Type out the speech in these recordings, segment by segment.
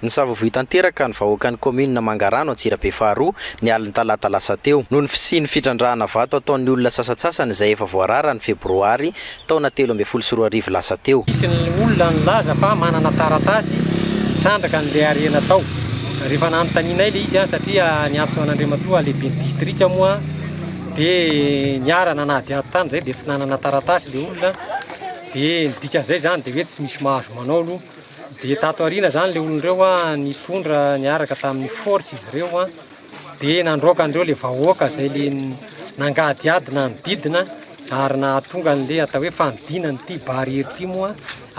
Nisavovoy tanteraka ny vahoakan'ny kaominina Mangarano Antsirabe faharoa, ny alin'ny talata lasa teo, noho ny fisian'ny fitrandrahana vato ataon'ny olona sasantsasany izay efa voarara ny febroary taona telo ambin'ny folo sy roa arivo lasa teo. Nisy ny olona nilaza fa manana taratasy hitrandraka an'ilay harena tao. Rehefa nanontanianay ilay izy, satria niantso an'Andriamatoa lehiben'ny distrika moa, dia niara-nanadihady tany izay, dia tsy nanana taratasy ilay olona, dia ny dikan'izay izany dia hoe tsy misy mahazo manao aloha. Dia tato aoriana izany ilay olona ireo nitondra niaraka tamin'ny force izy ireo dia nandroaka an'ireo ilay vahoaka izay ilay nangadiady nanodidina ary nahatonga an'ilay atao hoe fanodinana ity barrière ity moa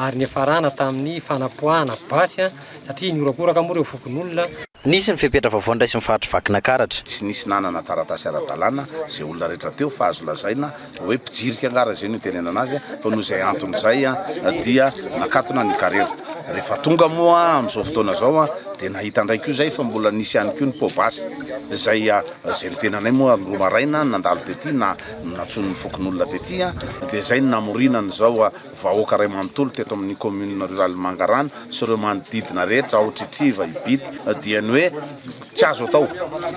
ary niafarana tamin'ny fanapoahana basy satria nihorakoraka moa ireo fokonolona. Nisy ny fepetra vaovao niraisin'ny faritry Vakinakaratra. Tsy nisy nanana taratasy ara-dalàna izay olona rehetra teo fa azo lazaina hoe mpijirika angaha raha izay no itenenana azy fa noho izay antony izay dia nakatona ny karera. Rehefa tonga moa amin'izao fotoana izao dia nahita indray koa izay fa mbola nisy ihany koa ny pot basy izay izay ny tenanay moa ary ny roa maraina nandalo tety na nantsoin'ny fokonolona tety dia izay no namoriana an'izao vahoaka iray manontolo teto amin'ny kaominina ruraly Mangarano sy ireo manodidina rehetra ao Tritriva, Ibity dia ny hoe tsy azo atao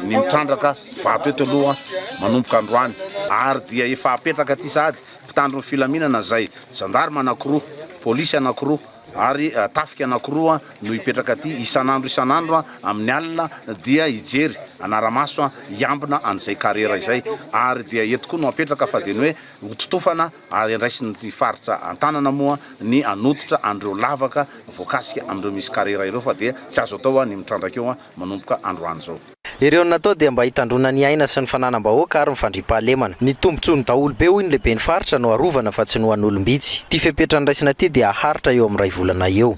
ny mitrandraka vato eto aloha manomboka androany ary dia efa hapetraka aty sahady mpitandro ny filaminana izay zandarima anankiroa, polisy anankiroa ary tafika anankiroa no hipetraka aty isan'andro isan'andro amin'ny alina dia hijery anara-maso hiambina an'izay karera izay ary dia eto koa no hapetraka fa dia ny hoe hototofana ary andraisin'ny faritra an-tanana moa ny hanototra an'ireo lavaka voakasika amin'ireo misy karera ireo fa dia tsy azo atao ny mitrandraka eo manomboka androany izao. Ireo natao dia mba hitandroana ny aina sy ny fananam-bahoaka ary ny fandriampahalemana. Ny tombontsoan'ny daholobe hoy ny lehiben'ny faritra no harovana fa tsy ny ho an'olom-bitsy. Ity fepetra andraisana ity dia haharitra eo amin'ny iray volana eo.